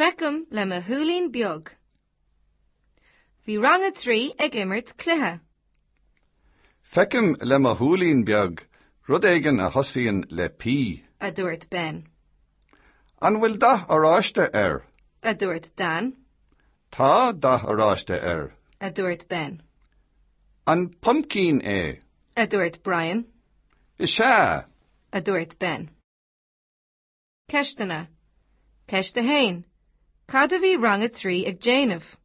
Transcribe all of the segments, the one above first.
Feicim le mo shúilín beag. Bhí rang a trí ag imirt cluiche. Feicim le mo shúilín beag rud éigin a thosaíonn le P. a dúirt Ben. An bhfuil dath oráiste air? a dúirt Dan. Tá dath oráiste air. a dúirt Ben. An pumpkin é? a dúirt Brian. Is ea. a dúirt Ben. Ceisteanna. Ceist 1. Cad a bhí rang a trí ag déanamh?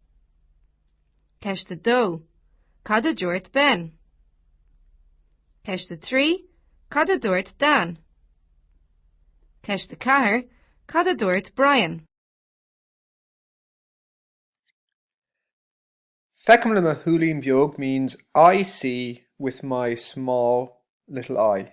Ceist 2. Cad a dúirt Ben? Ceist 3. Cad a dúirt Dan? Ceist 4. Cad a dúirt Brian? Feicim le mo shúilín beag means I see with my small little eye.